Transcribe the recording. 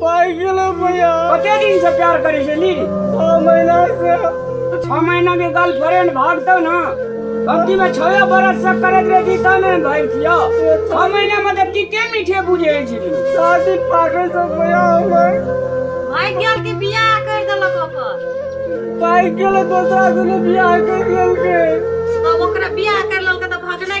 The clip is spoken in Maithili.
पाइ गेलै भैया कते दिन से प्यार करे छे नी छओ महीना से तो छह महीना में गर्लफ्रेंड भागतो ना भक्ति में छह बरस से करत रहे जी तब में भाग किया छह महीना में तो तीते मीठे बुझे छी शादी पागल से भैया हमर भाग गेल के बियाह कर देलक ओकर पाइ गेलै दोसरा से बियाह कर लेलकै तब ओकरा बियाह कर लेलक तऽ भगने